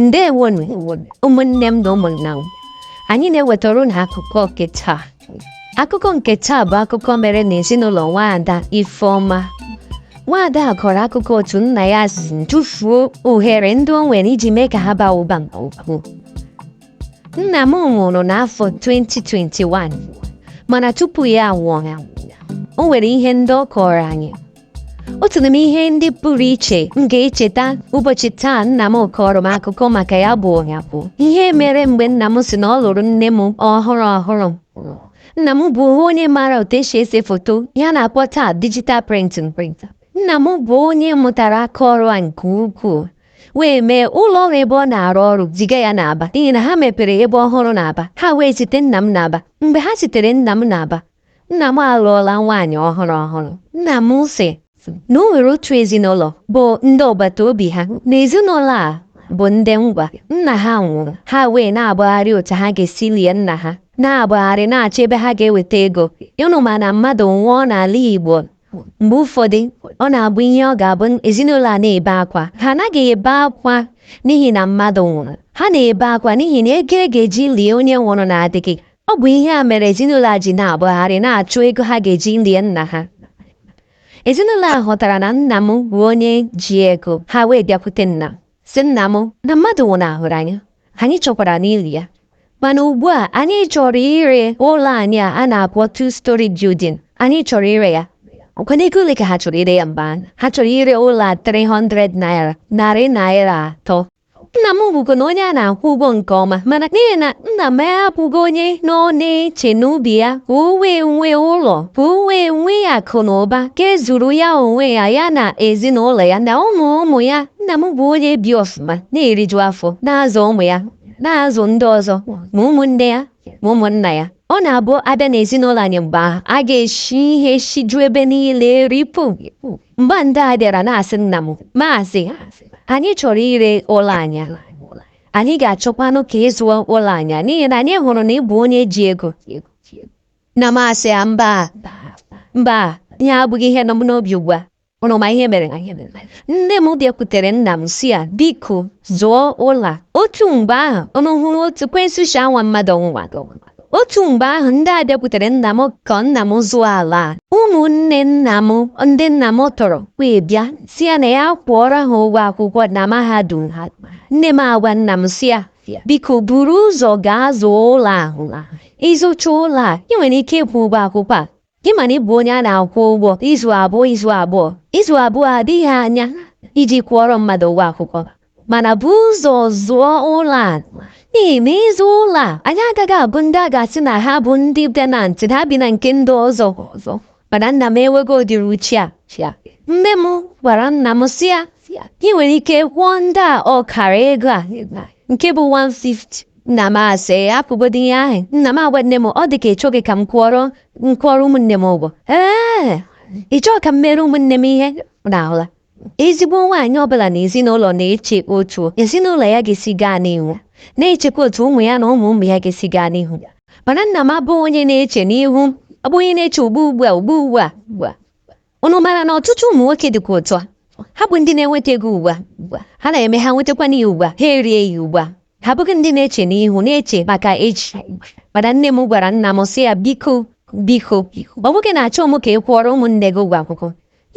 ndewonu ụmụnne m na ụmụnna m anyị na-ewetara ụnụ akụkọ nke taa akụkọ nke taa bụ akụkọ mere n'ezinụlọ nwaada Ifeọma nwaada a kọrọ akụkọ otu nna ya si tufuo ohere ndị o nwere iji mee ka ha baa ụba nke ukwuu nna m nwụrụ n'afọ 2021 mana tupu ya anwụọ o nwere ihe ndị ọ kọọrọ anyị otu n'ime ihe ndị pụrụ iche m ga-echeta ụbọchị taa nna m kọọrọ m akụkọ maka ya bụ nya bụ ihe mere mgbe nna m sị na ọ lụrụ nne m ọhụrụ ọhụrụ nna m bụ onye maara otu e si ese foto ihe a na-akpọ taa digital printing nna m bụ onye mụtara aka ọrụ a nke ukwuu wee mee ụlọ ọrụ ebe ọ na-arụ ọrụ ziga ya n'Aba n'ihi na ha mepere ebe ọhụrụ n'Aba ha wee zite nna m n'Aba mgbe ha zitere nna m n'Aba Nna m alụọla nwaanyị ọhụrụ ọhụrụ. Nna m sị na o nwere otu ezinụlọ bụ ndị agbata obi ha na ezinụlọ a bụ ndị Ngwa nna ha nwụrụ ha wee na-agbagharị otu ha ga-esi lie nna ha na-agbagharị na-achọ ebe ha ga-eweta ego ụnụ ma na mmadụ nwụọ n'ala Igbo mgbe ụfọdụ ọ na-abụ ihe ọ ga-abụ ezinụlọ a na-ebe akwa ha anaghị ebe akwa n'ihi na mmadụ nwụrụ ha na-ebe akwa n'ihi na ego e ga-eji lie onye nwụrụ na-adịghị Ọ bụ ihe a mere ezinụlọ a ji na-agbagharị na-achụ ego ha ga-eji lie nna ha. Ezinụlọ a ghọtara na nna m bụ onye ji ego, ha wee bịakwute nna m, sị nna m na mmadụ nwụnahụrụ anyị, anyị chọkwaranụ ili ya. Mana ugbu a anyị chọrọ ire ụlọ anyị a a na-akpọ two story building, anyị chọrọ ire ya. Ọ kwanụ ego ole ka ha chọrọ ire ya mgbe ahụ? Ha chọrọ ire ụlọ a 300 naira, narị naira atọ. Nna m bụkwanụ onye a na-akwụ ụgwọ nke ọma mana n'ihi na nna m abụghị onye nọ na-eche n'obi ya ka o wee nwee ụlọ ka o wee nwee akụ na ụba ga-ezuru ya onwe ya ya na ezinụlọ ya na ụmụ ụmụ ya nna m bụ onye bi ọfụma na-eriju afọ na-azụ ụmụ ya na-azụ ndị ọzọ ma ụmụnne ya ma ụmụnna ya ọ na-abụ a bịa n'ezinụlọ anyị mgbe ahụ a ga-eshi ihe shiju ebe niile ripụ Mgbe ndị a bịara na-asị nna m, Maazị, anyị chọrọ ire ụlọ anyị. Anyị ga-achọkwanụ ka ị zụọ ụlọ anyị n'ihi na anyị hụrụ na ị bụ onye ji ego. Nna m asị ya mba mba ihe a abụghị ihe nọ m n'obi ugbu a. Ụnụ ma ihe mere? Nne m bịakwutere nna m sị ya biko zụọ ụlọ a. Otu mgbe ahụ ụnụ hụrụ otu ekwensu shi anwa mmadụ ọnwụnwa. otu mgbe ahụ ndị a bịakwutere nna m ka nna m zụọ ala a ụmụnne nna m ndị nna m tọrọ wee bịa sị ya na ya kwụọrọ ha ụgwọ akwụkwọ na mahadum ha nne m agwa nna m sị ya biko buru ụzọ gaa zụọ ụlọ ahụ ị zụchaa ụlọ a ị nwere ike ịkwụ ụgwọ akwụkwọ a Gị ma na ị bụ onye a na-akwụ ụgwọ izu abụọ izu abụọ izu abụọ adịghị anya iji kwụọrọ mmadụ ụgwọ akwụkwọ mana bu ụzọ zụọ ụlọ a n'ihi na ịzụ ụlọ a anyị agaghị abụ ndị a ga-asị na ha bụ ndị tenant ha bi na nke ndị ọzọ mana nna m enweghị ụdịrị uche a nne m gwara nna m sị ya ị nwere ike kwụọ ndị a ọkara ego a nke bụ 150 nna m asị hapụgodi ihe ahụ nna m agwa nne m ọ dị ka ị chọghị ka m kwụọrọ m kwụọrọ ụmụnne m ụgwọ ee ị chọọ ka m mere ụmụnne m ihe unu ahụla ezigbo nwaanyị ọbụla n'ezinụlọ na-eche otu ezinụlọ ya ga-esi gaa n'ihu na-echekwa otu ụmụ ya na ụmụ ụmụ ya ga-esi gaa n'ihu mana nna m abụghị onye na-eche n'ihu ọ bụ onye na-eche ugbu ugbu a ugbu ugbu a Unu mara na ọtụtụ ụmụ nwoke dịkwa otu a ha bụ ndị na-enweta ego ugbu a ha na-eme ha nwetakwana ya ugbu a ha erie ya ugbu a ha abụghị ndị na-eche n'ihu na-eche maka echi mana nne m gwara nna m sị ya biko biko ọ wụghị na achọghị m ka ị kwụọrọ ụmụnne gị ụgwọ akwụkwọ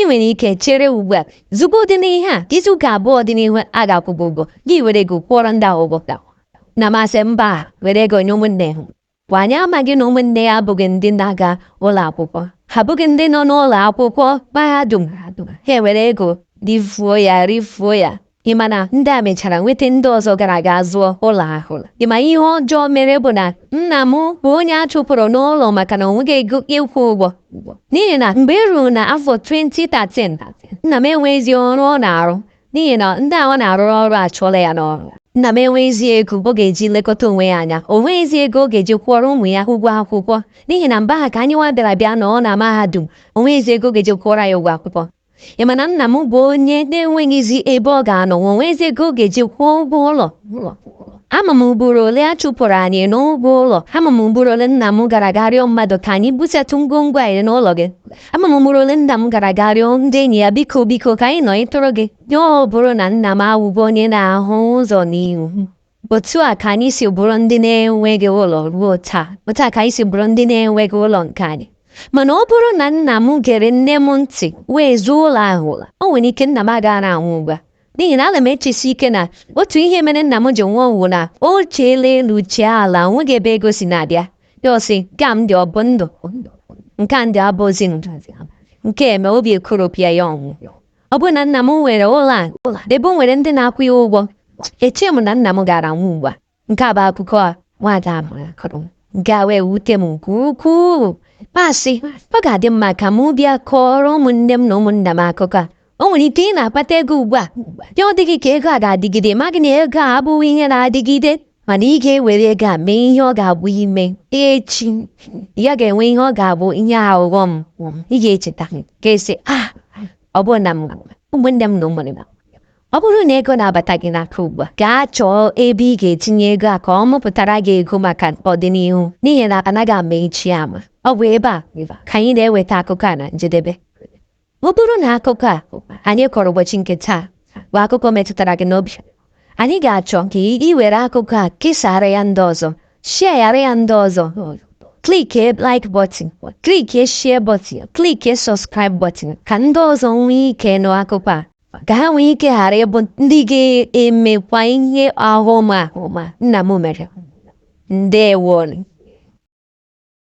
ị nwere ike chere ugbu a zụgodi ihe a izu ụka abụọ dị n'ihu a ga-akwụ gị ụgwọ gị were ego kwụọrọ ndị ahụ ụgwọ nna m asị mba were ego nye ụmụnne ha Kwa anyị amaghị na ụmụnne ya abụghị ndị na-aga ụlọ akwụkwọ ha abụghị ndị nọ n'ụlọ akwụkwọ mahadum ha ewere ego rifuo ya rifuo ya ị ma na ndị a mechara nweta ndị ọzọ gara aga zụọ ụlọ ahụ ị ma ihe ọjọọ mere bụ na nna m bụ onye a chụpụrụ n'ụlọ maka na o nweghị ego ịkwụ ụgwọ n'ihi na mgbe e ruru n'afọ 2013 nna m enweghịzi ọrụ ọ na-arụ n'ihi na ndị a ọ na-arụrụ ọrụ achụọla ya n'ọrụ nna m enweghịzi ego ọ ga-eji lekọta onwe ya anya o nweghịzi ego ọ ga-eji kwụọrọ ụmụ ya ụgwọ akwụkwọ n'ihi na mgbe ahụ ka anyị nwa bịara bịa nọ na mahadum o nweghịzi ego ọ ga-eji kwụọrọ ya ụgwọ akwụkwọ ị ma na nna m bụ onye na-enweghịzi ebe ọ ga-anọ o nweghịzi ego ọ ga-eji kwụọ ụgwọ ụlọ ama m ugboro ole a chụpụrụ anyị n'ụgwọ ụlọ ama m ugboro ole nna m gara aga rịọ mmadụ ka anyị busatụ ngwongwo anyị n'ụlọ gị ama m ugboro ole nna m gara aga rịọ ndị enyi ya biko biko ka anyị nọ ịtụrụ gị ya ọ bụrụ na nna m awụghị onye na-ahụ ụzọ n'ihu otu a ka anyị si bụrụ ndị na-enweghị ụlọ ruo taa otu a ka anyị si bụrụ ndị na-enweghị ụlọ nke anyị mana ọ bụrụ na nna m gere nne m ntị wee zụọ ụlọ ahụla o nwere ike nna m agaghị anwụ ugbu a n'ihi na ana m echesi ike na otu ihe mere nna m ji nwụọ wụ na o cheela elu chee ala o nweghị ebe ego si na-abịa ya asị nke a m dị ọ bụ ndụ nke a m dị abụzi ndụ nke eme obi ekoropụ ya ọ nwụọ ọ bụrụ na nna m nwere ụlọ a ebe o nwere ndị na-akwụ ya ụgwọ eche m na nna m agaraghị anwụ ugbu a Nke a bụ akụkọ a nwaada Amara kọrọ nke a wee wute m nke ukwuu m asị ọ ga-adị mma ka m bịa kọọrọ ụmụnne m na ụmụnna m akụkọ a o nwere ike ị na-akpata ego ugbu a ya adị gị ka ego a ga-adịgide maghị na ego a abụghị ihe na-adịgide mana ị ga-ewere ego a mee ihe ọ ga-abụ ime echi ya ga-enwe ihe ọ ga-abụ ihe ọghọm ị ga-echeta ga-asị ah ọ bụrụ na m ụmụnne m na ụmụnna m Ọ bụrụ na ego na-abata gị n'aka ugbu a gaa chọọ ebe ị ga-etinye ego a ka ọ mụpụtara gị ego maka ọdịnihu n'ihi na anaghị ama echi ama ọ bụ ebe a ka anyị na-eweta akụkọ a na njedebe ọ bụrụ na akụkọ a anyị kọrọ ụbọchị nke taa bụ akụkọ metụtara gị n'obi anyị ga-achọ ka ị were akụkọ a kesara ya ndị ọzọ share yara ya ndị ọzọ klikie like button klikie share button klikie subscribe button ka ndị ọzọ nwee ike nụ akụkọ a ka ha nwee ike ghara ịbụ ndị ga-emekwa ihe ọghọm a nna m mere ndewo nụ